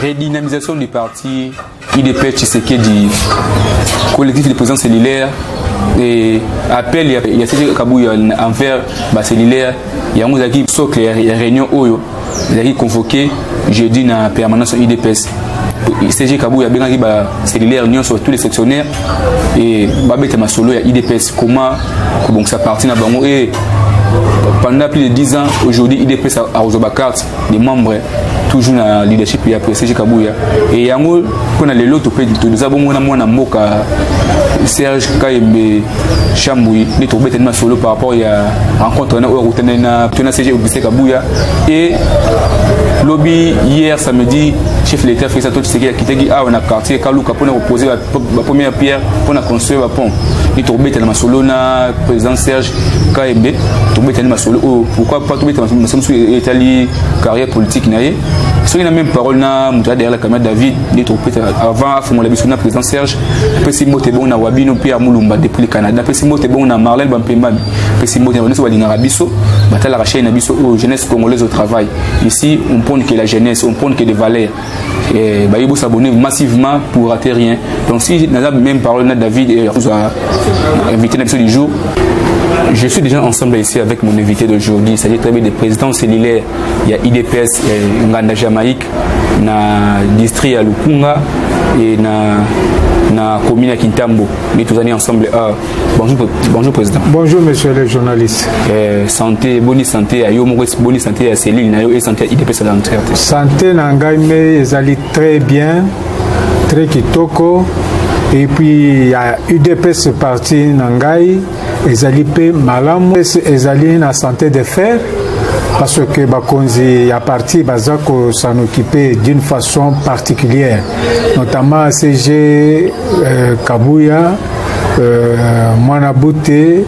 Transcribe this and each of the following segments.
redynamisation du parti IDP Tshisekedi, collectif de présence cellulaire et appel ya, ya Sese Kabuya envers ba cellulaire yango ezalaki socle ya, ya réunion oyo ezalaki convoqué jeudi na permanence ya IDPS CG Kabuya abengaki ba cellulaire nyonso tous les sectionnaires et babeta masolo ya IDPS comment kobongisa parti na bango et pendant plus de 10 ans aujourd'hui IDPS akozwa ba carte des membres toujours na leadership ya prestige kabuya e yango mpo na lelo tope toza bongo na mwana mboka serge kayembe chambui nde tokobetani masolo par rapport ya rencontre wana oyo akutani na to na cg auguste kabuya e lobi hier samedi chef l'état félix antoine tshisekedi akitaki awa na quartier kaluka mpona kopose bapremière pierre mpona construire bapont nde tokobetana masolo na président serge kayembe tobetani masolo oyo pourquoi pas tobeta masolo mosusu etali carrière politique na ye soki na même parole na moto ya derrière la caméra david nde tokopeta avant afongola biso na président serge apesi mbote bongo na wabino mpe ya mulumba depuis le canada napesi mbote bongo na marlel bampembami apesi mbote na banyoso balingaka biso batalaka chaine na biso oyo jeunesse congolaise au travail ici on prône que la jeunesse on prône que des valeurs eh, baye bo s'abonner massivement pour rater rien donc si naza même parole na david et akozwa invité na biso du jour je suis déjà ensemble ici avec mon invité d'aujourd'hui c'est-à-dire très bien des présidents cellulaires il y a idps eh, nganda jamaïque na district ya lukunga et na na commune ya kintambo mais tozali ensemble heure Bonjour, bonjour président. Bonjour monsieur le journaliste. Euh, santé, bonne santé à yo, bonne santé à Céline, na yo et santé à IDPS dans le Santé na ngai mais ezali très bien, très kitoko. Et puis ya UDPS parti na ngai ezali pe malamu, ezali na santé de fer parce que Bakonzi ya parti bazako s'en occuper d'une façon particulière, notamment CG Euh, Kabuya euh, mwana bute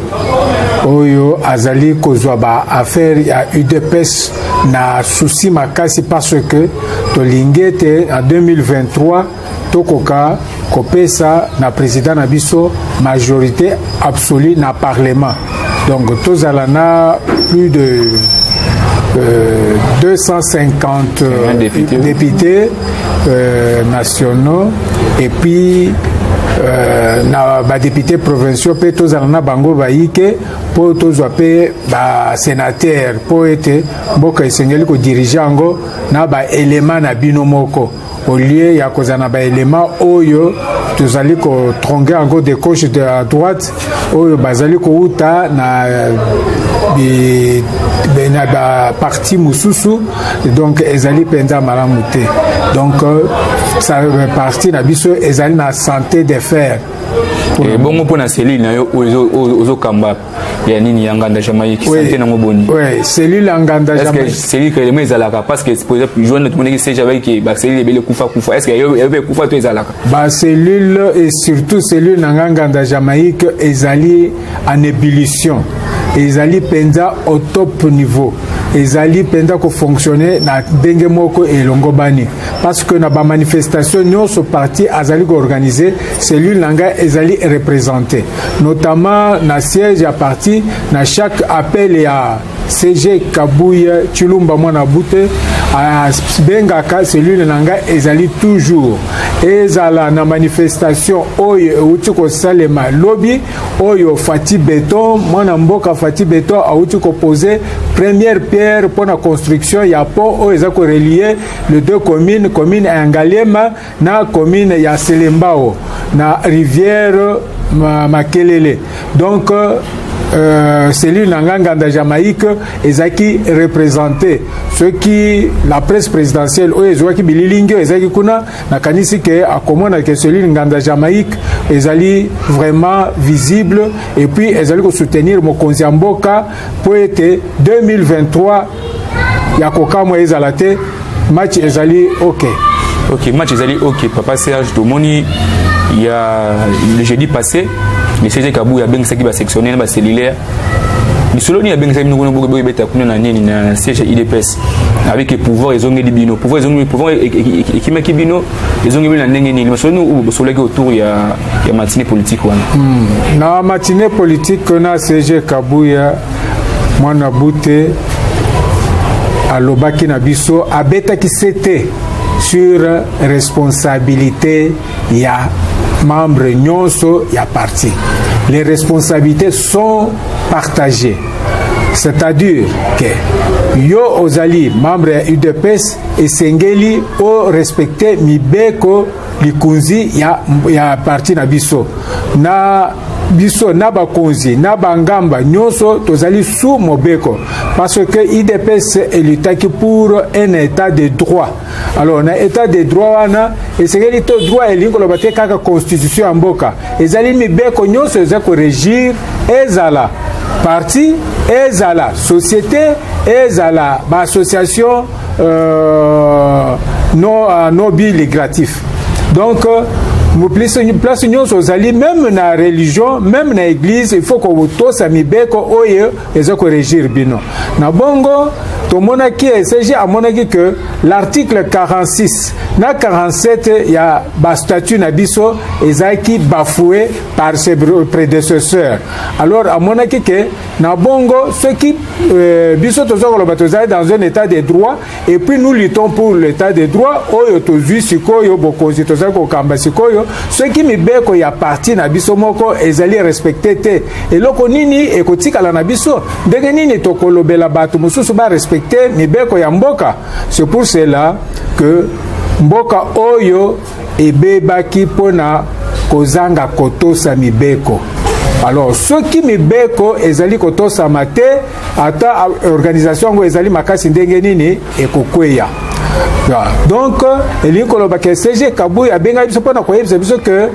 oyo azali kozwa ba affaire ya udps na souci makasi parce que tolingi ete en 2023 tokoka kopesa na président na biso majorité absolue na parlement donc tozala na plus de euh, 250 euh, députés, députés euh, nationaux et puis euh, na badepute provinciaux mpe tozala na bango bayike mpo tozwa mpe basenatere mpo ete mboka esengeli kodirige yango na baelema na bino moko au lieu ya kozala na baelema oyo tozali kotronge yango de gauche de la droite oyo bazali kouta na bi, na baparti mosusu donc ezali mpenza malamu te donc euh, parti na biso ezali na santé de fer ebongo eh, mpo na cellule na yo oyo ozokamba ya nini ya nganda jamaïque oui. sante nango boni oui. cellule ya nganda jamaïque cellule kelema ezalaka parce que pour exemple joine tomonaki se jamaïque ba cellule ebele kufa kufa est ce que eyobe kufa to ezalaka ba cellule et surtout cellule na nga nganda jamaïque ezali en ébullition ezali mpenza au top niveau ezali mpenza kofonctionne na ndenge moko elongobani parce que na bamanifestation nyonso parti azali koorganize cellule na ngai ezali représente notamment na siège ya parti na chaque appel ya CG Kabuye Chilumba mwana bute abengaka cellule na ngai ezali toujours ezala na manifestation oyo euti kosalema lobi oyo Fati Beton mwana mboka Fati Beton auti kopose première pierre mpo na construction ya pont oyo eza korelie le deux communes commune ya Ngaliema na commune ya Selembao na rivière Makelele donc euh, cellule na nga nganda jamaïque ezalaki représente soki la presse présidentielle oyo ezwaki bililingi oyo ezalaki kuna nakanisi ke akomona ke cellule nganda jamaïque ezali vraiment visible et puis ezali kosoutenir mokonzi ya mboka mpo ete 2023 ya kokamwa ezala te match ezali ok ok match ezali ok papa serge tomoni ya le jeudi passé le cg kabuya abengisaki basectionnaire na bacellulaire lisolo nini abengisaki bino kuna bokoki boyebeta kuna na nini na siège ya idps avec ke pouvoir ezongeli bino pouvoir ezongeli pouvoir e- e- e- ekimaki bino ezongeli bino na ndenge nini masolo nini oyo bosololaki autour ya, ya matinée politique wana hmm. na matinée politique na siège kabuya mwana bute alobaki na biso abetaki sete sur responsabilité ya membre nyonso ya parti les responsabilités sont partagées c'est-à-dire que yo ozali membre ya udps esengeli orespecte mibeko likonzi ya, ya parti na biso na biso na bakonzi na bangamba nyonso tozali sous mobeko parce que idps elutaki pour un état de droit alors na état de droit wana esengeli to droit elingi koloba te kaka constitution ya mboka ezali mibeko nyonso eza koregir ezala parti ezala société ezala baassociation euh, non, euh, non bi il est gratif donc euh, place place nyonso ozali meme na religion meme na église il faut kotosa mibeko oyo eza korégir bino na bongo tomonaki esg amonaki que l'article 46 na 47 ya bastatut na biso ezalaki bafoue par ses prédécesseurs alors amonaki que na bongo soki euh, biso toza koloba tozali dans un état de droit et puis nous luttons pour l'état de droit oyo tozwi sikoyo bokonzi tozali kokamba sikoyo soki mibeko ya parti na biso moko ezali respecte te eloko nini ekotikala na biso ndenge nini tokolobela bato mosusu barespecte mibeko ya mboka c'est pour cela que mboka oyo ebebaki mpo na kozanga kotosa mibeko alors soki mibeko ezali kotosama te ata organisation yango ezali makasi ndenge nini ekokweya donc elingi koloba ke cg kabui abengaki biso mpo na koyebisa biso ke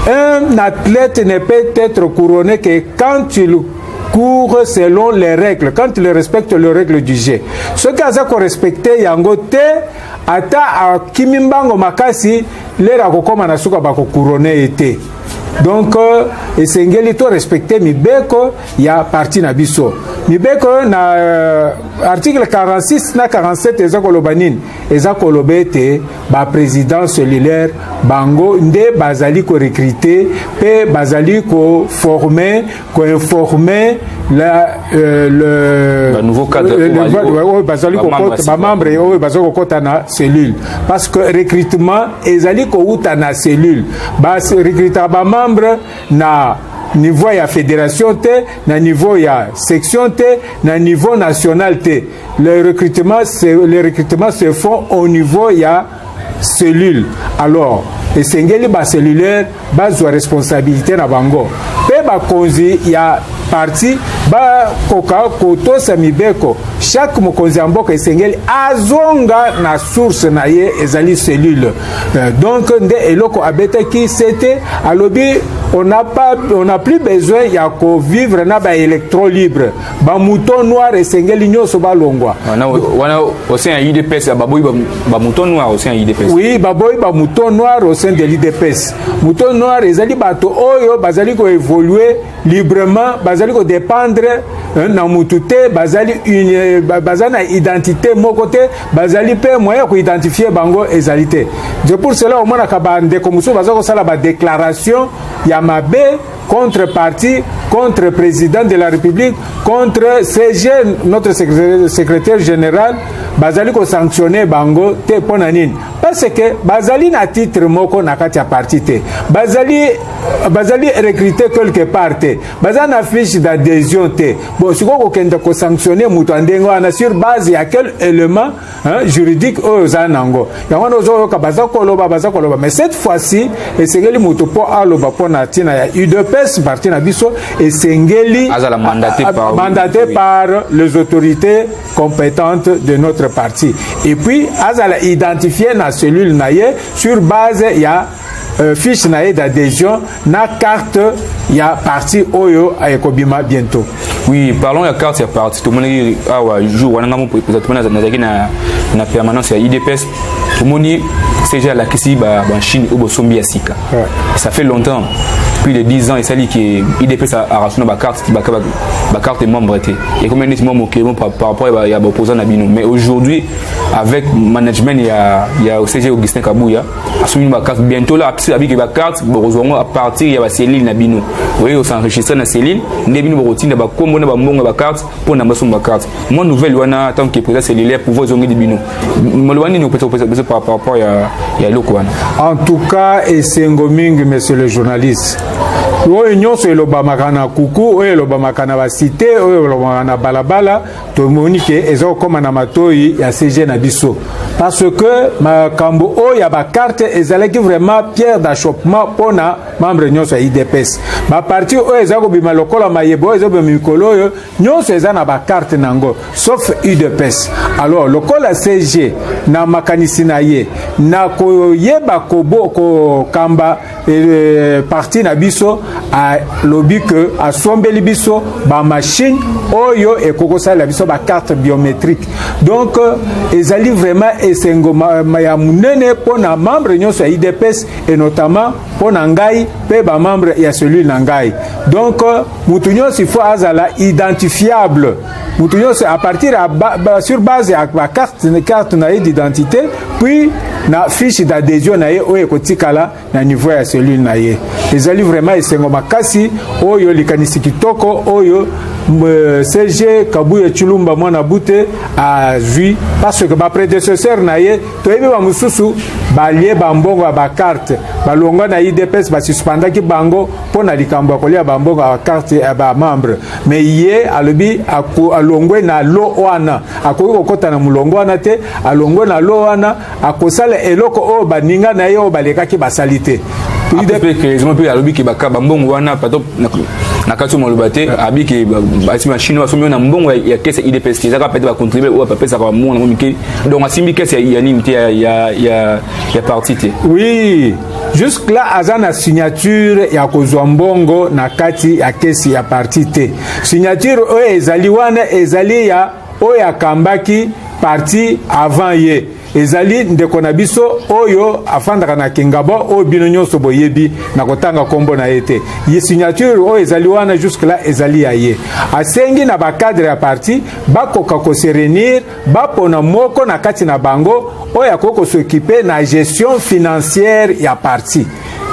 un athlète ne peut être couronné que quand il court selon les règles quand il respecte les règles du jeu soki aza korespecte yango te ata akimi mbango makasi lere akokoma na suka bakokurone ye te donc euh, esengeli to respecte mibeko ya parti na biso mibeko na euh, article 46 na 47 eza koloba nini eza koloba ete baprésident cellulaire bango nde bazali korekrite mpe bazali koforme koinforme la euh, le ba nouveau cadre euh, le, oyo bazali kokota ba membre oyo bazali kokota na cellule parce que recrutement ezali kowuta na cellule ba recruta ba membre na niveau ya fédération te na niveau ya section te na niveau national te le recrutement se, le recrutement se font au niveau ya cellule alors esengeli bacellulaire bazwa responsabilité na bango mpe bakonzi ya parti bakoka kotosa mibeko chaque mokonzi ya mboka esengeli azonga na source na ye ezali cellule euh, donc nde eloko abetaki sete alobi on n'a pas on n'a plus besoin ya kovivre na baélectro libre ba mouton noir esengeli nyonso balongwa wana au sein ya udps baboyi ba mouton noir au sein ya udps oui baboyi ba mouton noir au sein de l'udps mouton noir ezali bato oyo bazali koévolue librement bazali kodépendre eh, na mutu te bazali une baza na identité moko te bazali mpe moyen ya koidentifie bango ezali te de pour cela omonaka bandeko mosusu baza kosala badéclaration ya mabe contre parti, contre président de la République, contre CG, notre secrétaire général, bazali ko sanctionner bango te pona nini parce que bazali na titre moko na kati ya parti te bazali bazali recruter quelque part te baza na fiche d'adhésion te bon sikoyo kokende ko sanctionner moto ya ndenge wana sur base ya quel élément Hein, juridique oyo ozala na yango yango wana ozoyoka baza koloba baza koloba mais cette fois-ci esengeli moto mpo aloba mpo na ntina ya udps parti na biso esengeli mandate par les autorités compétentes de notre parti et puis azala identifie na cellule na ye sur base ya Euh, fiche na ye d'adhésion na carte ya parti oyo euh, ekobima bientôt oui parlons ya carte ya parti tomonaki awa ah jour wana ngai mopreza tomoni nazalaki na, na permanence ya idps tomoni cg alakisi bachine oyo bosombi ya sika ça fait longtemps plus de 10 ans esali ke idps arasuna bacarte bacarte membre te ekomi neti mwa mokili mo par rapport ya baopposant na bino mais aujourd'hui avec management ya, ya cg augustin kabuya asombi ba carte bientôt là apesi abiki ba carte bokozwa yango à partir ya ba cellule na bino oye osenregistre na cellule nde bino bokotinda bakombo na bambongo ya ba carte mpo na basomba ba carte mwa nouvelle wana tant que président cellulaire pouvoir ezongeli bino maloba nini opesa kopesa par rapport ya ya eloko wana en tout cas esengo mingi monsieur le journaliste oyo nyonso elobamaka na kuku oyo elobamaka na basite oyo elobamaka na balabala tomoni ke eza kokoma na matoyi ya CG na biso parce que makambo oyo ya bakarte ezalaki vraiment pierre d'achoppement mpo na membre nyonso ya idps baparti oyo eza kobima lokola mayebo oyo ezobima mikolo oyo nyonso eza na bakarte na yango sauf udps alors lokola CG na makanisi na ye na koyeba kokamba ko parti na biso alobi ke asombeli biso bamashine oyo ekoki kosalela biso bacarte biométrique donc euh, ezali vraiment esengo ya monene mpo na membre nyonso ya idps et notamment mpo na ngai mpe bamembre ya cellule na ngai donc euh, moto nyonso ifo azala identifiable mutu nyonso à partir ya ba, ba, sur base ya bacarte carte na ye d'identité puis na fiche d'adhesion na ye oyo ekotikala na niveau ya cellule na ye ezali vraiment esengo makasi oyo likanisi kitoko oyo euh, cg kabuye chulumba mwana bute azwi parce que bapredecesseur na ye toyebi bamosusu balie bambongo ya bakarte balongwa na idps basuspendaki bango mpo na likambo ya kolia bambongo ya bakarte ya bamembre me ye alobi alongwe na lo wana akoki kokɔta na molongo wana te alongwe na lo wana akosala eloko oyo baninga na ye oyo balekaki basali te mpe alobi ke bambongo wana pato na kati maloba te abi ke basi machine basombi na mbongo ya kese idps te ezaka pete bacontribue oyo bapesaka bambongo nango mike donc asimbi kese ya nini te ya, ya, ya, ya parti te oui jusque là aza na signature ya kozwa mbongo na kati ya kesi ya parti te signature oyo ezali wana ezali ya oyo akambaki parti avant ye ezali ndeko na biso oyo afandaka na kingabo oyo bino nyonso boyebi na kotanga nkombo na ye te ye signature oyo ezali wana jusque là ezali ya ye asengi na bacadre ya parti bakoka koserenir bapona moko na kati na bango oyo akoki kosokipe na gestion financière ya parti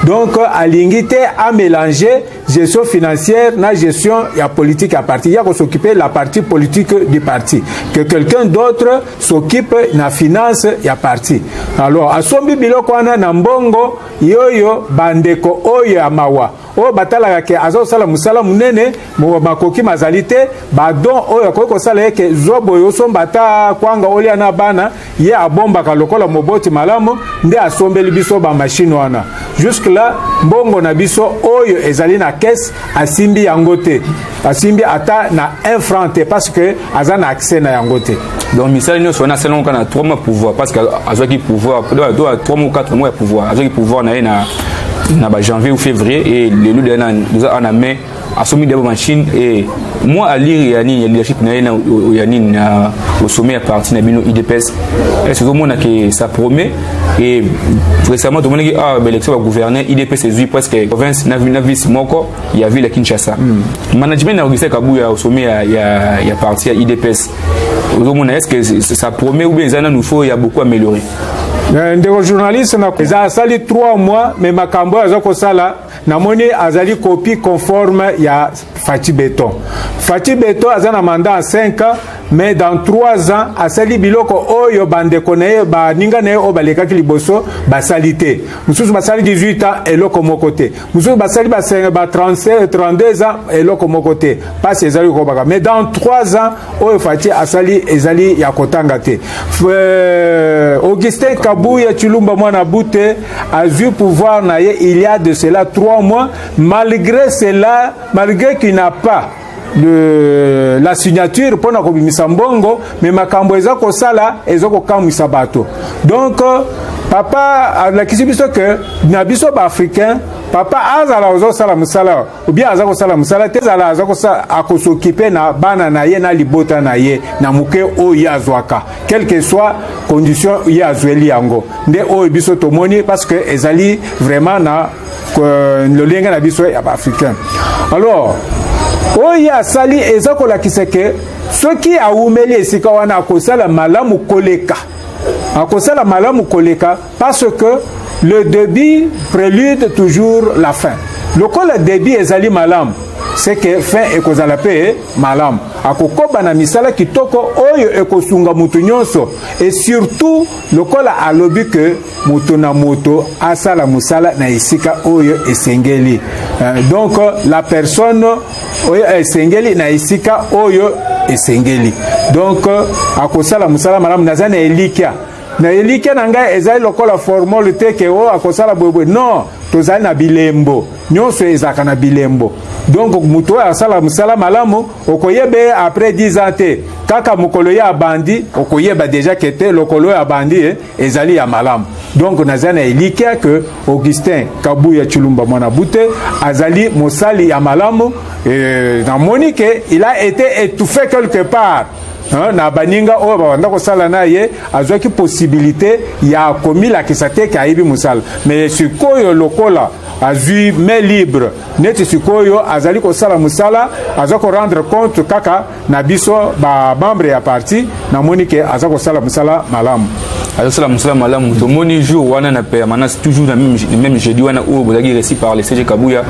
donc alingi te amélange gestion financière na gestion ya politique ya parti ya kosokipe la partie politique du parti que quelqu'un d'autre s'occupe na finance ya parti alors asombi biloko wana na mbongo yoyo bandeko oyo ya mawa oyo batalaka ke aza kosala mosala monene makoki mazali te badon oyo akoki kosala ye ke zwa boye osomba ata kwanga olia na bana ye abombaka lokola moboti malamu nde asombeli biso bamashine wana juske la mbongo na biso oyo ezali na kese asimbi yango te asimbi ata na 1 franc te parce que aza na accès na yango te donc misala nyonso wana asala yango kaka na 3 mois pouvoir parce que azwaki pouvoir 3 mois 4 mois ya pouvoir azwaki pouvoir na ye na na ba janvier ou février et lelo deya toza awa na mai asombi deya bamachine e moi alire ya nini ya leadership na ye ya nini na osommet ya parti na bino idps est ce que ozomona ke ça promet e récemment tomonaki awa baélection bagouverne idps ezwi presque province na vice moko ya ville ya Kinshasa mm. management ya Augustin Kabuya au sommet ya, ya, ya parti ya IDPS ozomona est-ce que ça promet ou bien eza nanu faut ya beaucoup améliorer eh, ndeko journaliste na eza asali 3 mois mais makambo oyo aza kosala namoni azali copie conforme ya Fatih Beton Fatih Beton aza na mandat ya 5 ans mais dans 3 ans asali biloko oyo bandeko na ye baninga na ye oyo balekaki liboso basali te mosusu basali 18 ans eloko moko te mosusu basali basenge ba 32 euh, ans eloko moko te mpasi ezali kokobaka mais dans 3 ans oyo fati asali ezali ya kotanga te euh, augustin kabuya chilumba mwana bute azwi pouvoir na ye il y a de cela 3 mois malgré cela malgré qu'il n'a pas de la signature mpo na kobimisa mbongo me makambo eza kosala eza kokamwisa bato donc papa alakisi biso ke na biso baafricain papa azala ozosala mosala obie aza kosala mosala te ezala aza akosokipe na bana na ye na libota na ye na moke oyo ye azwaka quelque soit condition ye azweli yango nde oyo biso tomoni parce que ezali vraiment na euh, lolenge na biso ya baafricain alors oyo asali eza kolakisa ke soki awumeli esika wana akosala malamu koleka akosala malamu koleka parce que le début prélude toujours la fin lokola début ezali malamu c'est que fin ekozala mpe malamu akokoba na misala kitoko oyo ekosunga moto nyonso et surtout lokola alobi que moto na moto asala mosala na esika oyo esengeli euh, donc la personne oyo esengeli na esika oyo esengeli donc akosala mosala malamu naza na elikya na elikya na ngai ezali lokola formole te ke o oh, akosala boyeboye non tozali na bilembo nyonso ezalaka na bilembo donc moto oyo asala mosala malamu okoyeba ye après 10 ans te kaka mokolo ye abandi okoyeba deja ke te lokolo oyo abandi ye eh, ezali ya malamu donc naza na elikia ke augustin kabuya chulumba mwana bute azali mosali ya malamu e, namoni ke il a été étouffé quelque part Hein, na baninga oyo babanda kosala na ye azwaki posibilité ya komilakisa te ke ayebi mosala me sikoyo lokola azwi main libre neti sikoyo azali kosala mosala aza korendre compte kaka na biso ba membre ya parti namoni ke aza kosala mosala malamu azosala mosala malamu tomoni jour wana na permanence toujours na même jeudi wana oyo bozalaki resi par le cg kabuya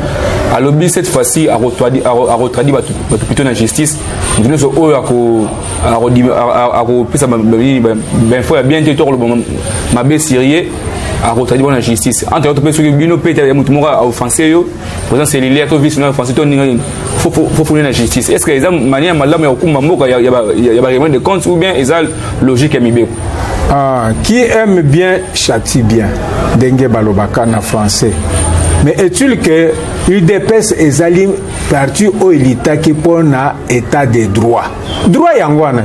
alobi cette fois-ci akotradi bato plutôt na justice moto nyonso oyo akopesa bainfo ya bien te to akoloba mabe sirie akotradi bango na justice entre autres mpe soki bino mpe moto moko aoffense yo oza cellulaire to vice na français to ninga nini faut pone na justice est ce que eza manière malamu ya kokumba mboka ya baraiement de compte ou bien eza logique ya mibeko ah, qui aime bien châtie bien ndenge balobaka na français mais est-il que udps ezali parti oyo elitaki mpo na état de droit droit yango wana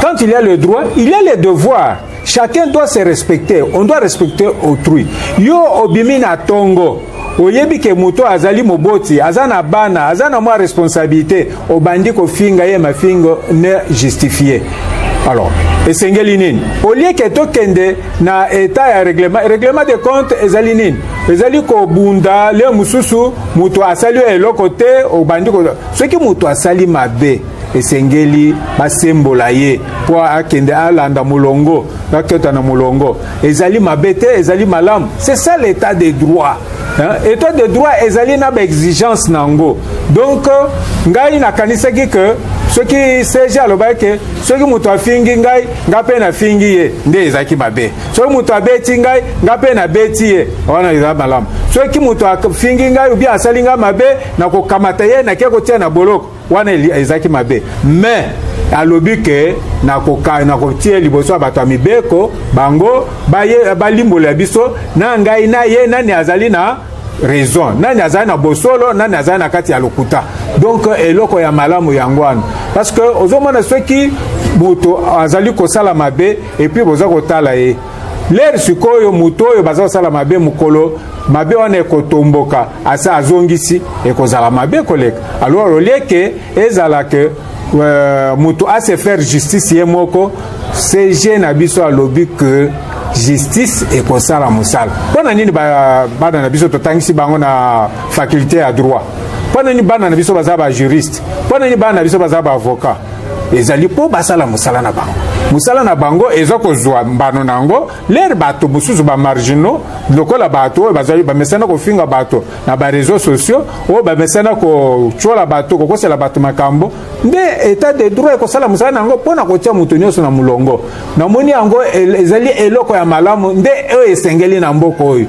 quand il y a le droit il y a le devoir Chacun doit se respecter, on doit respecter autrui. Yo obimi na tongo oyebi ke moto azali moboti aza na bana aza na mwa responsabilité obandi kofinga ye mafingo ne justifie alors esengeli nini olie ke tokende na etat ya règlement règlement de compte ezali nini ezali kobunda leo mosusu moto asali yo eloko te obandi soki moto asali mabe esengeli basembola ye mpo akende alanda molongo aketa na molongo ezali mabe te ezali malamu c'est ça l'état de droit hein? état de droit ezali na baexigence na yango donc euh, ngai nakanisaki ke soki serge alobaki ke soki moto afingi ngai nga mpe nafingi ye nde ezalaki mabe soki moto abeti ngai nga mpe nabeti ye wana eza malamu soki moto afingi ngai obi asali ngai mabe nakokamata ye nake kotia na boloko wana ezalaki mabe mais alobi ke nakotia liboso ya bato ya mibeko bango balimbola biso na ngai na ye nani azali na raison nani azali na bosolo nani azali na kati ya lokuta donc eloko ya malamu yango wana parce que ozomona soki moto azali kosala mabe epuis boza kotala ye lere sikoyo moto oyo baza kosala mabe mokolo mabe wana ekotomboka asi azongisi ekozala mabe koleka alors olie ke ezala ke euh, moto ase faire justice ye moko cg na biso alobi ke justice ekosala mosala mpo na nini bana na biso totangisi bango na faculté ya droit mpo na nini bana na biso baza bajuriste mpo na nini bana na biso baza baavocat ezali mpo basala mosala na bango mosala na bango eza kozwa mbano na yango lere bato mosusu bamarginaux lokola bato oyo bazali bamesana kofinga bato na bareseau sociaux oyo bamesana kotyola bato kokosela bato makambo nde etat de droit ekosala mosala na yango mpo na kotya moto nyonso na molongo namoni yango ezali eloko ya malamu nde oyo esengeli na mboka oyo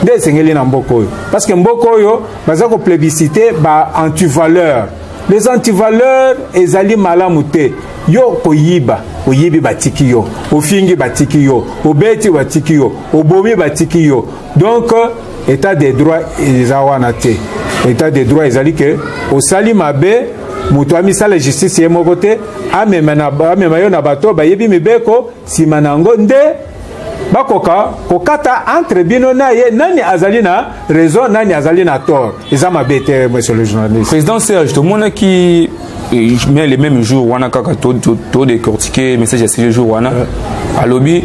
nde esengeli na mboka oyo parce que mboka oyo baza koplebisite ba antivaleur les antivaleurs ezali malamu te yo koyiba oyibi batiki yo ofingi batiki yo obeti batiki yo obomi batiki yo donc état de droit eza wana te état de droit ezali ke osali mabe moto amisala justice ye moko te amema yo na bato bayebi mibeko nsima na yango nde bakoka kokata entre bino na ye nani azali na raison nani azali na tort eza mabe te monsieur le journaliste président serge tomonaki eh, mais le même jour wana kaka todecortike message ya sile jour wana alobi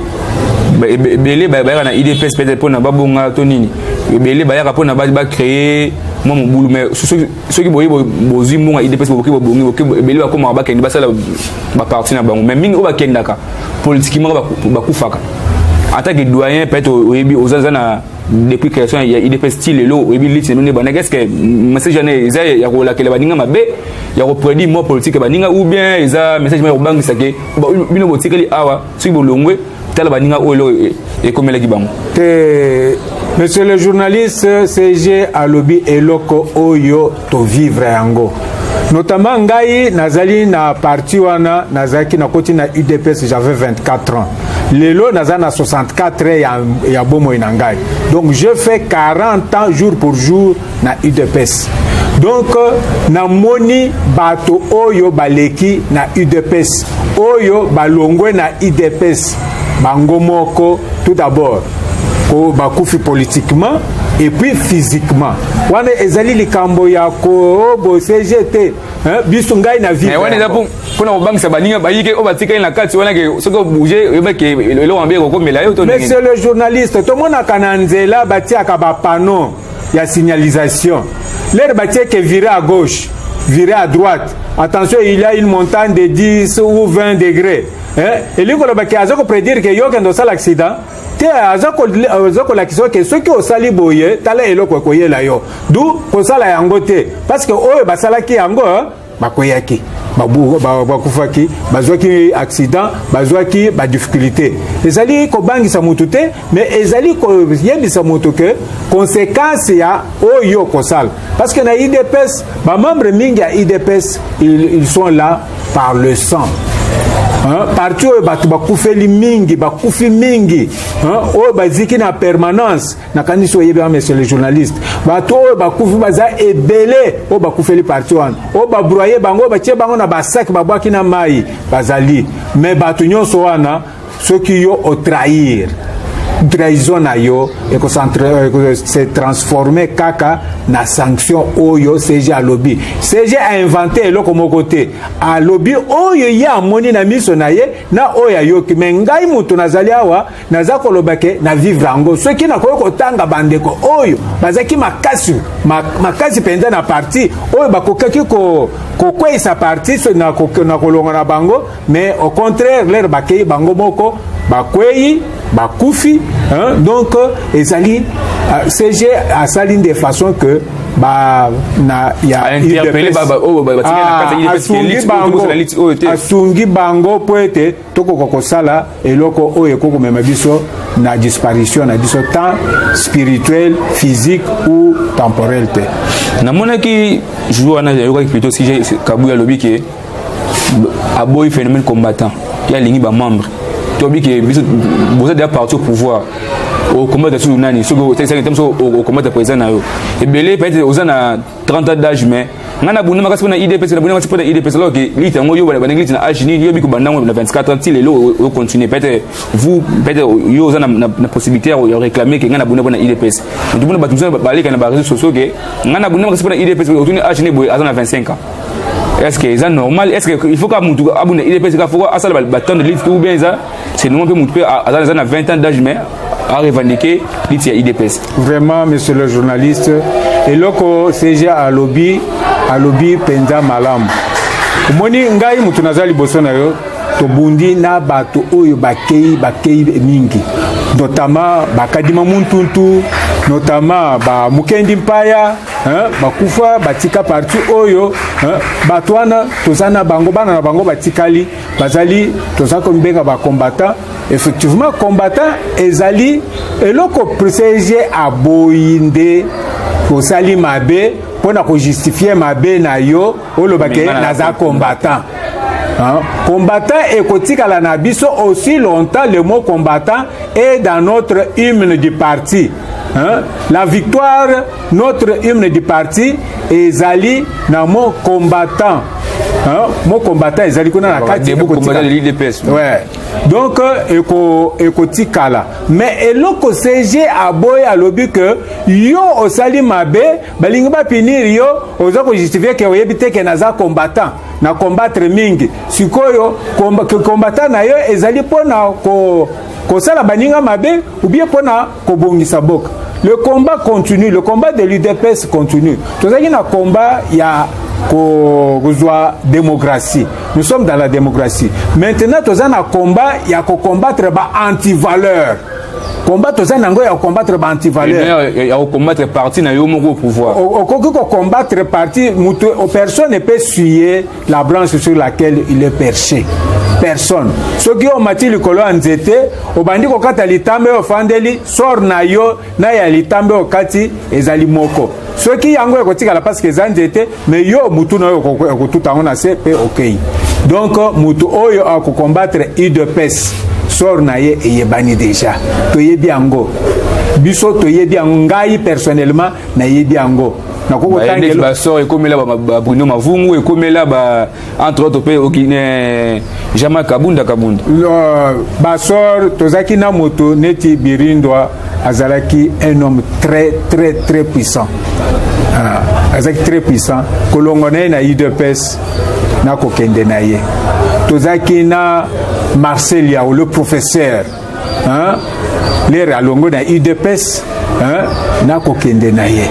ebele bayaka na idps peut-être mpona babonga to nini ebele bayaka mpona bacreye mwa mobulu mais soki boye bozwi mbongo ya idps bokoki bobongi ebele bakomaka bakende basala baparti na bango mais mingi oyo bakendaka politiquement bakufaka en tant que doyen peut-être oyebi oza na depuis création ya idps ti lelo oyebi liti na bino nde bandaki eske message wana eza ya kolakela baninga mabe ya kopredire mwa politike ya baninga ou bien eza message moko ya kobangisa ke bino botikali awa soki bolongwe tala baninga oyo eloko e, e, ekomelaki bango te monsieur le journaliste cg alobi eloko oyo to vivre yango notamment ngai nazali na parti wana nazalaki nakoti na udps j'avais 24 ans lelo naza na 64 ans ya, ya bomoi na ngai donc je fais 40 ans jour pour jour na udps donc namoni bato oyo baleki na udps oyo balongwe na udps bango moko tout d'abord oyo bakufi politiquement et puis physiquement wana ezali likambo ya kobosege oh, te biso ngai na vie wana eza mpona kobangisa baninga bayike oyo batikali na kati wana ke soki obouge oyebaki eloko mabe ekokomela yo monsieur le journaliste tomonaka na nzela batiaka bapano ya signalisation lere batie ke vire à gauche vire à droite attention il y a une montagne de 10 ou 20 degrés eh, elingi koloba ke aza kopredire ke yo okende osala accident te aza kolakisa oke soki osali boye tala eloko ekoyela yo du kosala yango te parceke oyo basalaki yango eh, bakweyaki bakufaki bazwaki accident bazwaki badifficulté ezali kobangisa motu te mais ezali koyebisa motu ke conséquence ya oyo okosala parce que na idps bamembre mingi ya idps ils sont là par le sang parti oyo bato bakufeli mingi bakufi mingi oyo baziki na permanence nakanisi oyebi wana monsieur le journaliste bato oyo bakufi baza ebele oyo bakufeli parti wana oyo babroye bango oyo batie bango na basaki babwaki na mai bazali me bato nyonso wana soki yo o trahir trahison na yo se transforme kaka na sanction oyo cg alobi cg ainvente eloko moko te alobi oyo ye amoni na miso na ye na oyo ayoki me ngai moto nazali awa naza koloba ke na vivre yango soki nakoki kotanga bandeko oyo bazalaki makasi makasi mpenza na parti oyo bakokaki kokweisa ko parti na kolonga na bango mais au contraire lere bakei bango moko bakwei bakufi hein? donc euh, ezali euh, cg asali nde façon que ba na ya asungi bango mpo ete tokoka kosala eloko oyo ekoki komema biso na disparition na biso temps spirituel physique ou temporel te namonaki jour wana yayokaki plutôt si kabuya alobi ke aboyi phénomène combattant ye alingi bamembre toyebi ke biso boza deja parti au pouvoir okomata sur nani soki otekisaki te moso okomata président na yo ebele peut-être oza na 30 ans d'âge mais nga na bunda makasi mpona idps na bunda makasi mpona idps alors que lite yango yo bandaki lite na age nini yo biko banda yango na 24 ans ti lelo ocontinue peut-être vous peut-être yo oza na possibilité ya réclamer ke nga na bunda mpona idps donc mpona bato mosusu baleka na bareseau sociaux ke nga na bunda makasi mpona idps otuni age nini boye aza na 25 ans est-ce que eza normal est-ce que il faut ka mutu abuna il pesa faut asala ba temps de livre ou bien eza c'est normal pe mutu pe aza na 20 ans d'âge mais a revendiquer lit ya IDPS vraiment monsieur le journaliste eloko CG alobi alobi penza malamu omoni ngai mutu naza liboso na yo tobundi na bato oyo bakei bakei mingi notama bakadima muntuntu notama ba mukendi mpaya hein, bakufa batika parti oyo hein, bato wana toza na bango bana na bango batikali bazali toza komibenga bakombata effectivement kombata ezali eloko privilegie aboyi nde osali mabe mpo na kojustifie mabe na yo olobake naza combattant Hein? Combattant ekotikala na biso aussi longtemps le mot combattant est dans notre hymne du parti. Hein? La victoire, notre hymne du parti ezali na mon combattant. Hein? Mon combattant ezali kuna na kati de combattant de l'UDPS. Ouais. Donc euh, eko ekotikala. Mais eloko CG aboye alobi que yo osali mabe balingi ba punir yo oza ko justifier que oyebi te que naza combattant na combattre mingi. Sikoyo combattant na yo ezali pona ko kosala baninga mabe ou bien mpo na kobongisa boka le combat continue le combat de l'udps continue tozalaki na combat ya kozwa démocratie nous sommes dans la démocratie maintenant toza na combat ya kocombattre ba antivaleur combat toza na yango ya kocombattre ba antivaleur eh ya kocombattre parti na yo moko au pouvoir okoki kocombattre parti moto personne epe suye la branche sur laquelle il est perché personne soki yo omati likolo ya nzete obandi kokata litambe oyo ofandeli sor na yo na ya litambe okati ezali moko soki yango ekotikala parce que eza nzete mais yo mutu na yo okotuta yango na se mpe okei donc mutu oyo akokombattre udps sor na ye eyebani deja toyebi yango biso toyebi yango ngai personnellement nayebi yango basor ekomela bruno mavungu ekomela ba entre autres mpe okine eh, jama kabunda kabunda basor tozalaki na moto neti birindwa azalaki un homme très très très puissant ah, azalaki très puissant kolongo na ye na udps na kokende na ye tozalaki na marcel yao le professeur hein? lere alongwe na udps hein? nakokende na ye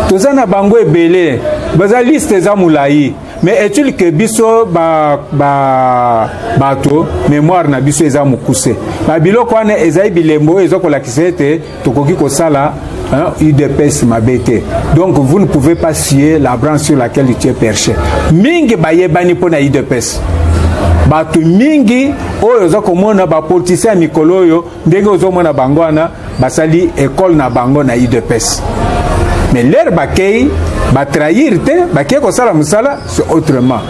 toza na bango ebele baza liste eza molai mais est-il que biso bato ba, ba mémoire na biso eza mokuse babiloko wana ezali bilembo oyo eza kolakisa ete tokoki kosala hein, udps mabe te donc vous ne pouvez pas scier la branche sur laquelle tu es perché mingi bayebani mpo na udps bato mingi oyo oza komona bapolitisien ya mikolo oyo ndenge ozomona bango wana basali ekole na bango na udps mais lere bakei batrahir te bakei kosala mosala c'est autrement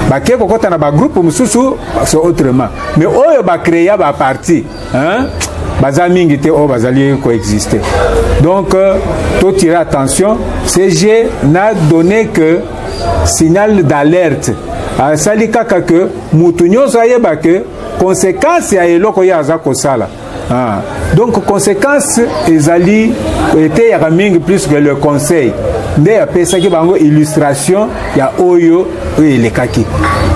bakei kokɔta na bagroupe mosusu c'est autrement mais oyo bacrea baparti hein? baza mingi te oyo bazali koexiste donc euh, totire attention cg na donné que signal d'alerte asali kaka ke motu nyonso ayeba ke konsekanse ya eloko ye aza kosala ah. donc konsekanse ezali eteyaka mingi plus que le conseil nde apesaki bango illustration ya oyo oyo elekaki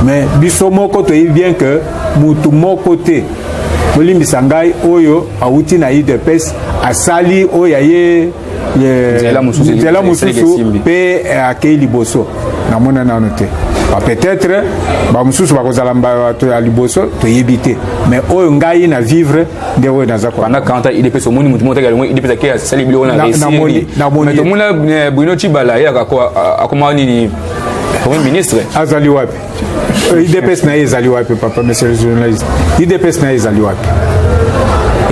mais biso moko toyebi bien ke motu moko te bolimbisa ngai oyo awuti na udps asali oyo ya ye nzela mosusu mpe akei liboso namona nano te peut-être bamosusu bakozala bato ya liboso toyebi te mais oyo ngai na vivre nde oyo naza pendant 40 ans idps omoni motu motaki alongo idps ake asali biloko na resiri mais tomona eh, bruno cibala ye akoma nini premier ministre azali wapi Euh, idps na ye ezali wapi papa monsieur le journaliste idps na ye ezali wapi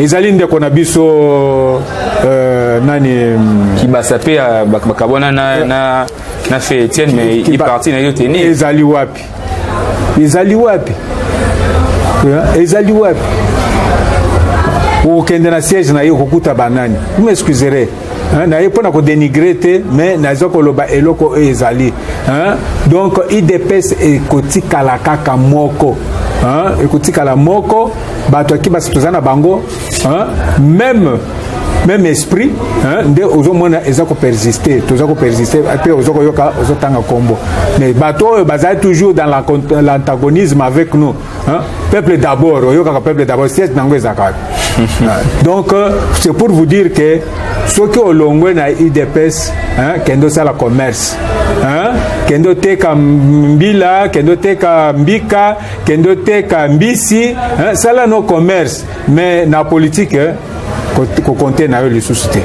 ezali ndeko na biso euh, nani mm, kibasa mpe euh, bakabwana na, na, na fe etienne mais iparti na yo teni ezali wapi ezali wapi ezali wapi okokende na siège na ye okokuta banani vous m'excuserez Hein, naye mpo na kodenigre te mais naza koloba eloko oyo ezali hein? donc idps ekotikala kaka moko hein? ekotikala moko bato ya kibasi toza na bango hein? meme même esprit hein, nde ozomona eza kopersiste toza kopersiste mpe oza koyoka ozotanga nkombo mais bato oyo bazali toujours dans l'antagonisme avec nous Hein? Peuple d'abord, oyokaka peuple d'abord, siège nango ezalaka wapi? Donc euh, c'est pour vous dire que soki olongwe na udps hein, kende osala commerce hein? kende oteka mbila kende oteka mbika kende oteka mbisi hein? sala no commerce Mais na politique kokonte na yo lisusu te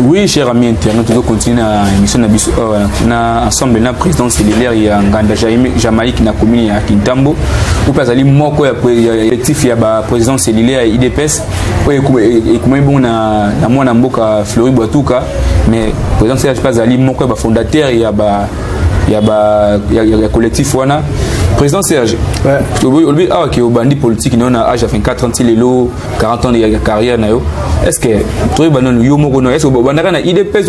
oui cher ami internaute tozo continue na émission na biso awa euh, na ensemble na président cellulaire ya nganda jamaïque na commune ya kintambo oyo mpe azali moko ya collectif ya baprésident cellulaire ya idps oyo ekomami bongo na mwana mboka flori bwatuka mais président cellulaire mpe azali moko ya bafondateur ya ba ya ba ya, ya, ya collectif wana président serge olobi awa ke obandi politique nayo na age ya 24 ans ti lelo 40 ans ya carrière na yo est ce que toyeba nanu yo moko no est ce que obandaka na idps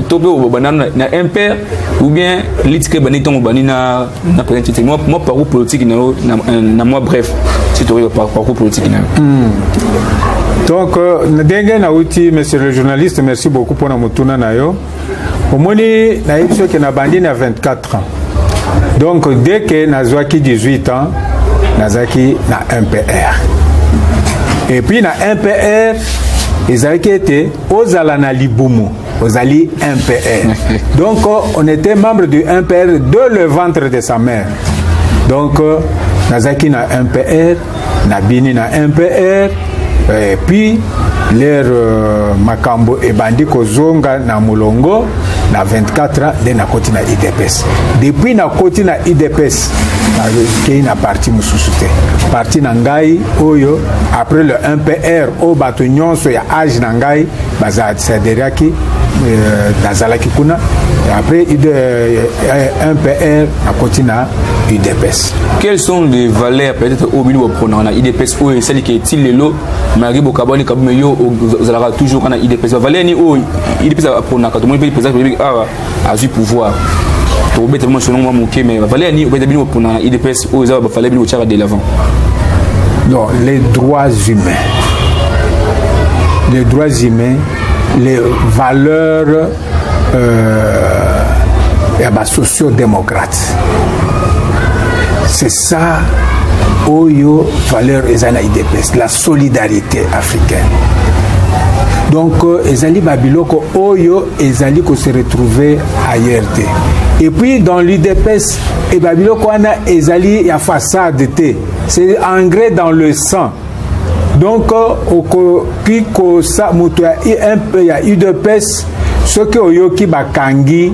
to mpe obanda na impere ou bien litike ebandi ntango obandi na na président tete mwa parcours politique na yo na mwa bref si toyeba parcours politique na yo hmm. donc euh, ndenge nauti monsieur le journaliste merci beaucoup mpona motuna na yo omoni nayebi soki nabandi na 24 ans donc dès que nazwaki 18 ans nazalaki na mpr et puis na mpr ezalaki ete ozala na libumu ozali mpr donc on était membre du mpr de le ventre de sa mère donc nazalaki na mpr nabini na mpr eh, puis lere euh, makambo ebandi kozonga na molongo na 24 ans nde nakoti na idps depuis nakoti na idps nakei na parti mosusu te parti na ngai oyo après le mpr oyo bato nyonso ya age na ngai basaderiaki euh, nazalaki kuna après mpr euh, nakoti na udps quelles sont les valeurs peut-être oyo bino boprenaka na idps oyo esali ke ti lelo malgré bokabwani kabume yo ozalaka toujours kana idps bavaleur ni oyo idps aprenaka tomoni mpe président république awa azwi pouvoir tokobeta bino sonongo mwa moke mais bavaleur ni obeta bino boprenaka na idps oyo eza bavaleur bino botyaka de l'avant non les droits humains les droits humains les valeurs euh, ya ba socio démocrate c'est ça oyo valeur eza na idps la solidarité africaine donc euh, ezali babiloko oyo ezali ko se retrouver ailleurs te et puis dans l'udps e babiloko wana ezali ya façade te c'est engrais dans le sang donc okoki kosa moto ya imp ya udps soki oyoki bakangi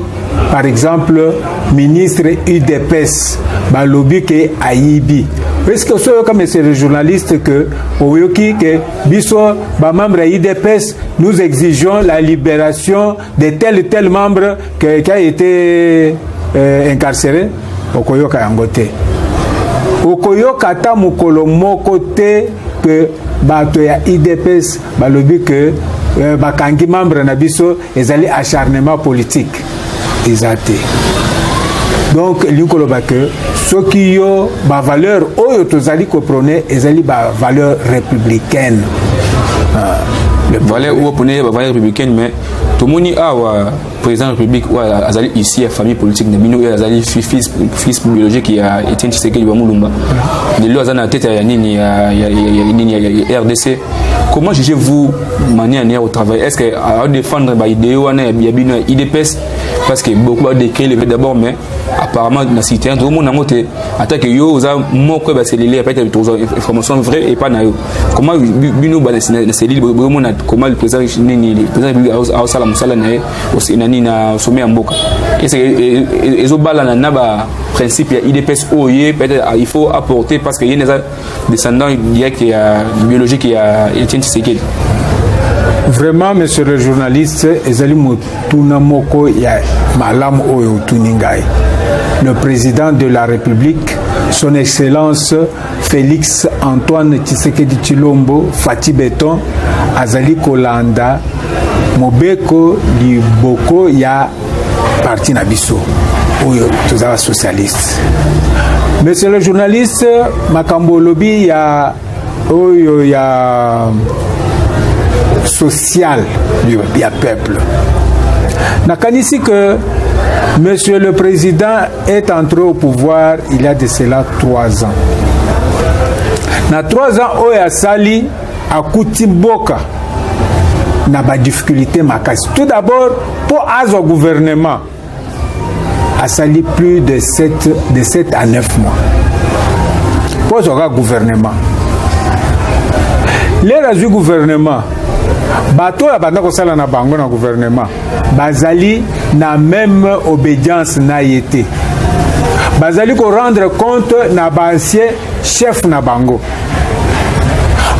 par exemple ministre udps balobi ke ayibi eske osi oyoka monsieur le journaliste ke oyoki ke biso bamembre ya udps nous exigeons la libération de tel et tel membre que, qui a été euh, incarcéré okoyoka yango te okoyoka ata mokolo moko te que bato ya idps balobi que euh, bakangi membre na biso ezali acharnement politique eza te donc elingi koloba que soki yo ba valeur oyo tozali ko prone ezali ba valeur républicaine ah, valeur oyo prone ba valeur républicaine mais tomoni awa président république oyo azali ici ya famille politique na bino oyo azali fils, fils biologique ya etienne tshisekedi wa mulumba lelo aza na tete ya nini ya, ya, ya, ya, nini ya, ya, ya rdc comment jugez vous manière nière au travail est ce que adefendre baideo wana ya bino ya idps parce que beaucoup badecree le d'abord mais apparemment na site yango tokomona yango te ata ke yo oza moko ya baselile apete tokozwa information vrai epai na yo koma bino na selile bokomona koma président nini président république aosala mosala na ye na nini na sommet ya mboka ezobalana na baprincipe ya idps oyo ye peut-être il faut apporter parce que ye eza descendant direct ya biologique ya Etienne Tshisekedi vraiment monsieur le journaliste ezali motuna moko ya malamu oyo otuni ngai le président de la république son excellence félix antoine tshisekedi tshilombo fati beton azali kolanda mobeko liboko ya parti na biso oyo tozala socialiste monsieur le journaliste makambo olobi ya oyo ya social ya peuple nakanisi que monsieur le président est entré au pouvoir il y a de cela trois ans na trois ans oyo asali akuti boka na ba difficulté makasi tout d'abord mpo azwa gouvernement asali plus de 7, de 7 à 9 mois mpo azwa kaka gouvernement lelo azwi gouvernement bato oyo abanda kosala na bango na gouvernement bazali na meme obedience na ye te bazali korendre compte na baancien chef na bango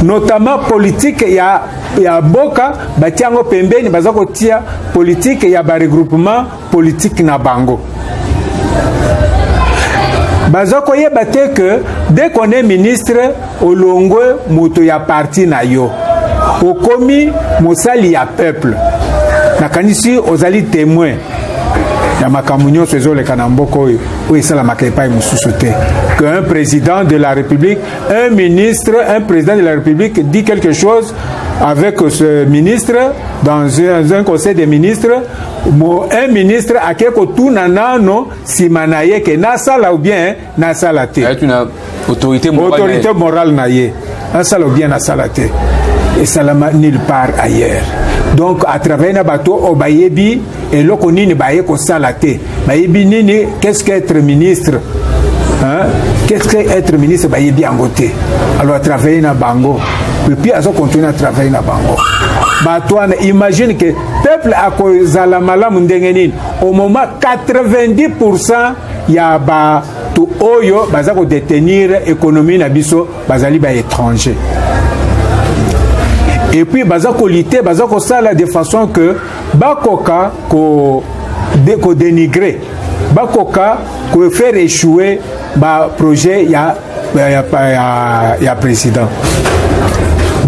notamment politique ya, ya boka batia yango pembeni baza kotia politique ya baregroupement politique na bango baza koyeba te que dès qu'on est ministre olongwe moto ya parti na yo okomi mosali ya peuple nakanisi ozali témoin ya makambo nyonso ezoleka na mboka oyo oyo esalamaka epai mosusu te que un président de la république un ministre un président de la république dit quelque chose avec ce ministre dans un, un conseil des ministres un ministre ake kotuna nano nsima na ye ke nasala ou bien nasala te autorité morale na ye asala bien asala te esalama nulle part ailleurs donc à travers na bato oyo bayebi eloko nini baye kosala te bayebi nini qu'est-ce que être ministre hein? qu'est-ce que être ministre bayebi yango te alors à travers na bango epuis azo continue na travail na bango bato wana imagine ke peuple akozala malamu ndenge nini au moment 90 pourcent ya ba to oyo baza ko detenir économie na biso bazali ba étranger et puis baza ko lutter baza ko sala de façon que bakoka ko de, ko dénigrer bakoka ko faire échouer ba projet ya ya, ya, ya, ya président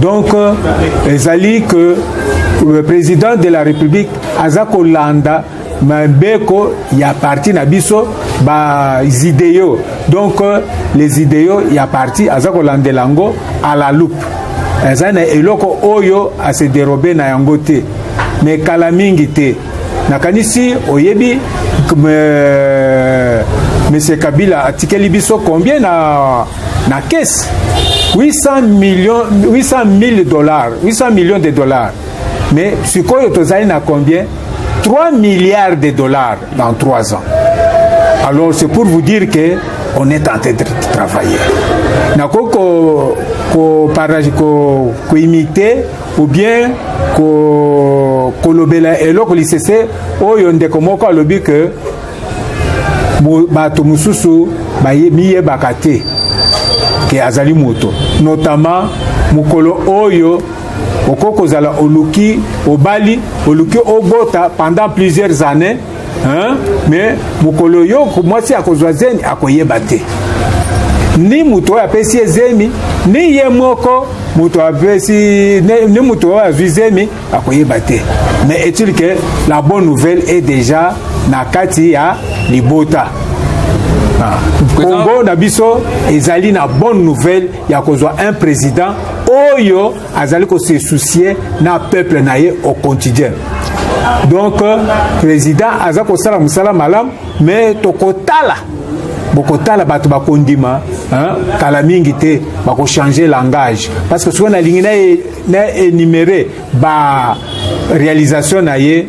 donc euh, ezali que le président de la république aza kolanda mibeko ya parti na biso baideo donc euh, les ideo ya parti aza kolandela yango à la loupe eza na eloko oyo ase derobe na yango te me kala mingi te nakanisi oyebi euh, monsieur kabila atikeli biso combien na, na kese 800 millions 800 000 dollars 800 millions de dollars mais sikoyo tozali na combien 3 milliards de dollars dans 3 ans. Alors c'est pour vous dire que on est en train de travailler. Nako ko ko parage ko ko imiter ou bien ko kolobela eloko lisese oyo ndeko moko alobi que bato mosusu miyebaka te ke azali moto notamment mokolo oyo okoki kozala oluki obali oluki obota pendant plusieurs années hein? mais mokolo yo mwasi akozwa zemi akoyeba te ni moto oyo apesi ye zemi ni ye moko moto apesi ni moto oyo azwi zemi akoyeba te mais est-il que la bonne nouvelle est déjà na kati ya libota ah. kongo na biso ezali na bonne nouvelle ya kozwa un président oyo azali kose soucie na peuple na ye au quotidien donc euh, président aza kosala mosala malamu mais tokotala bokotala bato bakondima kala mingi te bakochange langage parce que soki nalingi na enumere ba réalisation na ye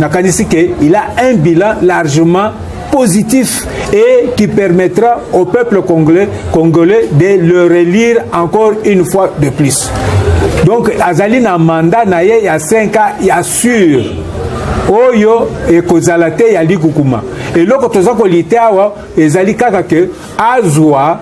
nakanisi ke il a un bilan largement positif et qui permettra au peuple congolais, congolais de le relire encore une fois de plus. Donc azali na mandat na ye ya 5 ans ya sur oyo ekozala te ya likukuma eloko toza kolite awa ezali kaka ke azwa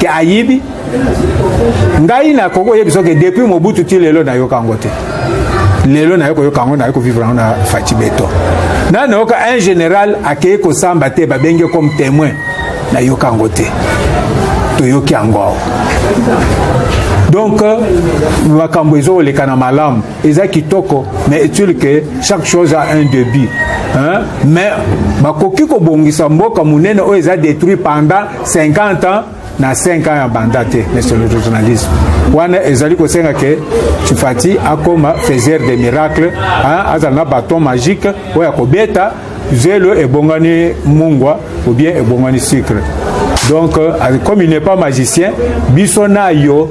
ke ayibi ngai nakoki oyebisa ke depuis mobutu ti lelo nayoka yango te lelo naye koyoka yango naye kovivre yango na faci beton na nayoka un général akei kosamba te babengi ye comme témoin nayoka yango te toyoki yango awa donc makambo ezokoleka na malamu eza kitoko mais est-il que chaque chose a un début hein? mais bakoki kobongisa mboka monene oyo eza détruit pendant 50 ans na 5 ans ya banda te monsieur le journaliste wana ezali kosenga ke tufati akoma faiseur de miracle azala na baton magique oyo akobeta zelo ebongani mungwa ou bien ebongani sucre donc euh, comme il n'est pas magicien biso na yo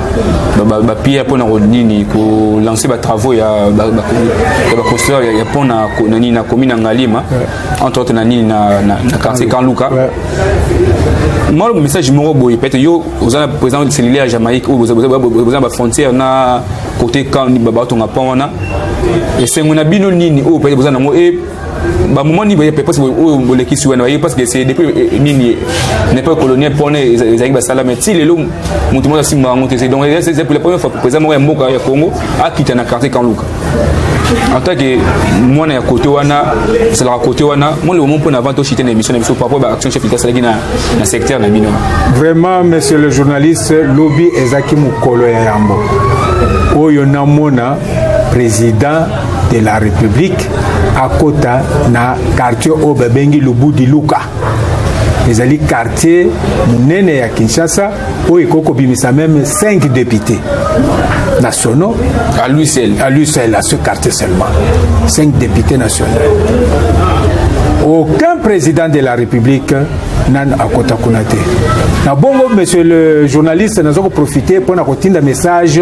bapiere mpona nini kolanse batravaux ya baconstruire ya mpo na nini na komi na ngalima entre autres na nini na quartier kanluka mwa message moko boye peut-être yo oza na président cellulaire ya jamaïque oyo boza na bafrontière na côté kan batonga mpo wana esengo na bino nini oyo peut-être boza nango ba moment ni boye parce que oyo bolekisi wana parce que c'est depuis euh, nini n'est pas colonial pour ne ezaki ba sala mais ti lelo mutu mona simba ngo te donc c'est pour la première fois président moko ya mboka ya Congo akita na quartier Kanluka en tant que mwana ya kote wana esalaka kote wana mwana omo mpo na avant toshite na émission na biso par rapport ba action chef ita asalaki na, na secteur na bino vraiment monsieur le journaliste lobi ezalaki mokolo ya yambo oyo namona président de la République akota na quartier oyo babengi Lubudi Luka ezali quartier monene ya Kinshasa oyo ekoki kobimisa meme 5 députés nationaux à lui seul à lui seul à ce quartier seulement 5 députés nationaux aucun président de la République nanu akota kuna te na bongo monsieur le journaliste naza koprofite mpo na kotinda message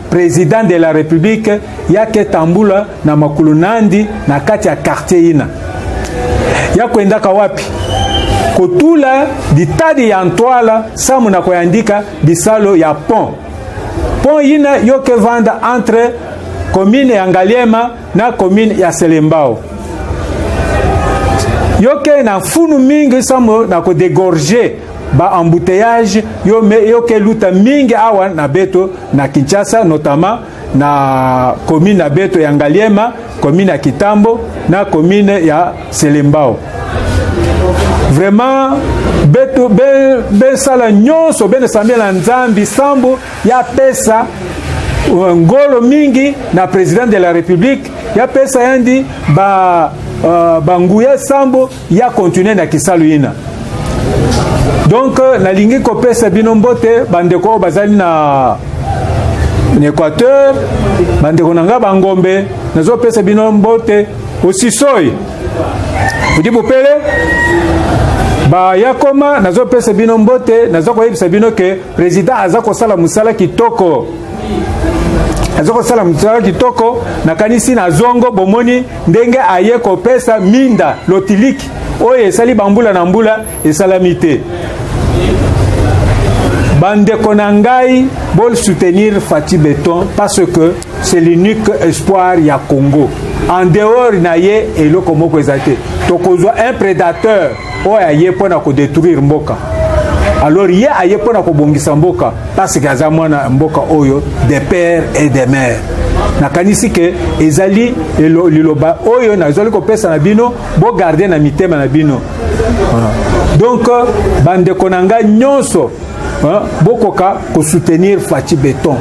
President de la Republique yake tambula na makulu nandi na kati ya quartier ina ya kwendaka wapi kotula ditadi ya ntwala samu na koyandika bisalo ya pont pont ina yoke vanda entre commune ya Ngaliema na commune ya Selembao yoke na funu mingi somo na kodegorge ba embouteillage yo me yoke luta mingi awa na beto na Kinshasa notamment na commune na beto ya Ngaliema commune ya Kitambo na commune ya Selembao vraiment beto besala nyonso benesambela nzambi sambo ya pesa euh, ngolo mingi na president de la republique ya pesa yandi ba uh, banguya sambo ya continue na kisalu ina donc euh, nalingi kopesa bino mbote bandeko oyo bazali na na équateur bandeko na ngai bangombe nazopesa bino mbote osisoi odi bopele bayakoma nazopesa bino mbote naza koyebisa bino ke President aza kosala mosala kitoko aza kosala mosala kitoko nakanisi na zongo bomoni ndenge aye kopesa minda lotiliki oyo esali bambula na mbula esalami te bandeko na ngai bolsoutenir fati beton parce que c'est l'unique espoir ya congo en dehors na ye eloko moko eza te tokozwa un prédateur oyo aye mpo na kodetruire mboka alors ye aye mpo na kobongisa mboka parceke aza mwana mboka oyo de père et de mère nakanisi ke ezali liloba oyo nazali kopesa na bino bogarde na mitema na bino donc bandeko na ngai nyonso bokoka kosoutenir faci beton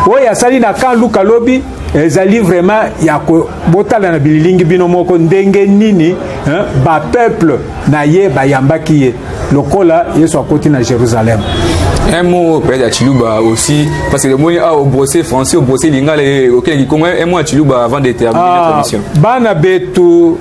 oyo asali na kan luka lobi ezali vraiment ya kobotala na bililingi bino moko ndenge nini bapeuple na ye bayambaki ye lokola yesu akoti na jérusalem un mot peut-être à Chiluba aussi, parce que le mot a au brossé français, au brossé lingala, ok, un mot à Chiluba avant de terminer ah, la commission. Bana Betu,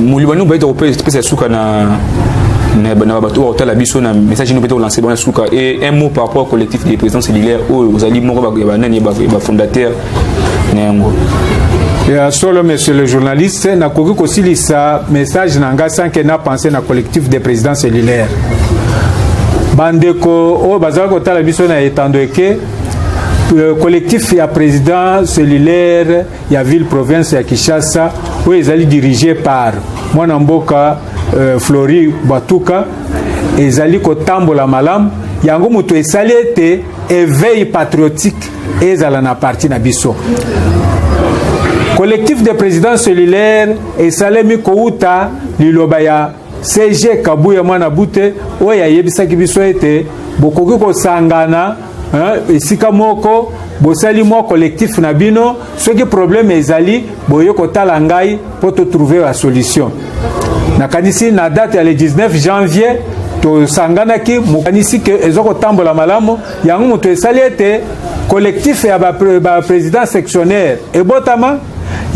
molobani obayi tokopesa suka na na bato oyo bakotala biso na message ino mpe tokolanse bango na suka e un mot par rapport collectif de président cellulaire oyo ozali moko ya banani ya bafondateur na yango ya solo monsieur le journaliste nakoki kosilisa message na ngai sanke na pense na collectif de président cellulaire bandeko oyo bazali kotala biso na etando eke euh, collectif ya président cellulaire ya ville province ya Kinshasa oyo ezali dirige par mwana mboka euh, Flori Batuka ezali kotambola malamu yango moto esali ete éveil patriotique ezala na parti na biso collectif de président cellulaire esalemi kouta liloba ya CG Kabuya Mwana Bute oyo ayebisaki biso ete bokoki kosangana esika moko bosali mwa collectif na bino soki problème ezali boye kotala ngai mpo totrouve ba solution nakanisi na date ya le 19 janvier tosanganaki mokanisi ke eza kotambola malamu yango moto esali ete collectif ya baprésident ba sectionnaire ebotama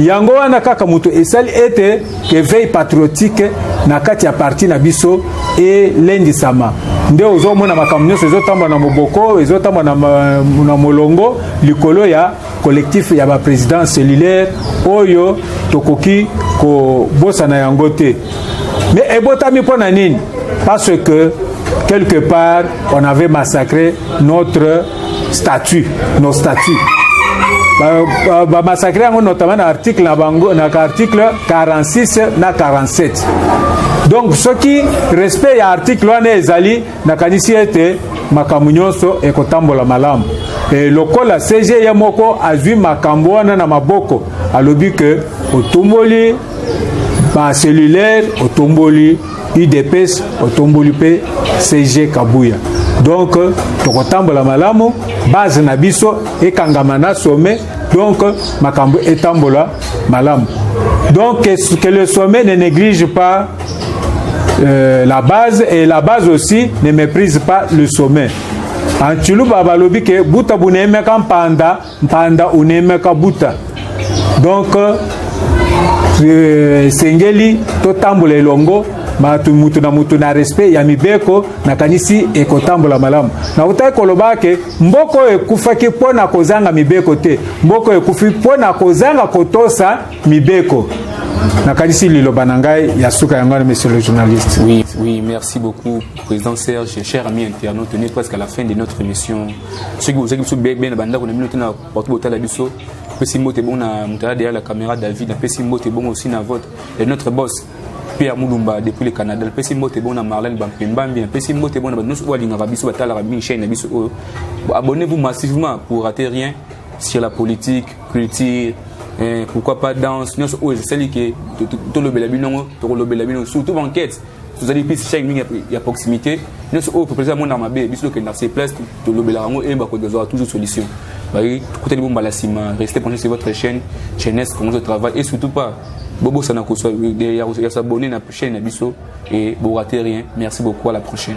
yango wana kaka moto esali ete eveil patriotique na kati ya parti na biso elendisama nde ozomona makambo nyonso ezotambola na moboko ezotambola na, na molongo likolo ya collectif ya baprésident cellulaire oyo tokoki kobosana yango te mais ebotami mpo na nini parce que quelque part on avait massacré notre statut no statut bamasakre ba, ba yango notamment na article na bango na article 46 na 47 donc soki respect ya article wana ezali nakanisi ete makambo nyonso ekotambola malamu e, lokola cg ye moko azwi makambo wana na maboko alobi ke otumboli bacelulaire otumboli udps otomboli mpe cg kabuya donc tokotambola malamu base na biso ekangama na sommet donc makambo etambola malamu donc que, que le sommet ne néglige pas euh, la base et la base aussi ne méprise pas le sommet en tshiluba balobi ke buta buneyemeka mpanda Mpanda uneme kabuta donc euh, esengeli totambola elongo bato moto na moto na respect ya mibeko nakanisi ekotambola malamu nakotaki koloba ke mboka oyo ekufaki mpo na kozanga mibeko te mboka oyo ekufi mpo na kozanga kotosa mibeko nakanisi liloba na ngai ya suka yango wana monsieur le journaliste oui, oui merci beaucoup président serge cher ami internaute on est presque à la fin de notre émission soki bozaki biso bebe na bandako na bino te na partout botala biso pesi mbote bongo na moto aza derrière la caméra david napesi mbote bongo aussi na vote et notre boss mpe ya mulumba depuis le canada napesi mbote bongo na marlene bampembambi napesi mbote bongo na bato nyonso oyo alingaka biso batalaka mingi chaine na biso oyo abonnez vous massivement pour rater rien sur la politique culture eh, pourquoi pas danse nyonso oyo esali ke tolobela bino yango tokolobela bino surtout banquete tozali mpe sichaki mingi ya proximité nyonso oyo population amonaka mabe biso tokenda se place tolobelaka yango eyeba ko tozwaka toujours solution bayi tokutani bo mbala nsima reste penché sur votre chaîne chaînesse commence travail et surtout pas bobosana koswa ya s'abonner na chaîne na biso et borate rien merci beaucoup à la prochaine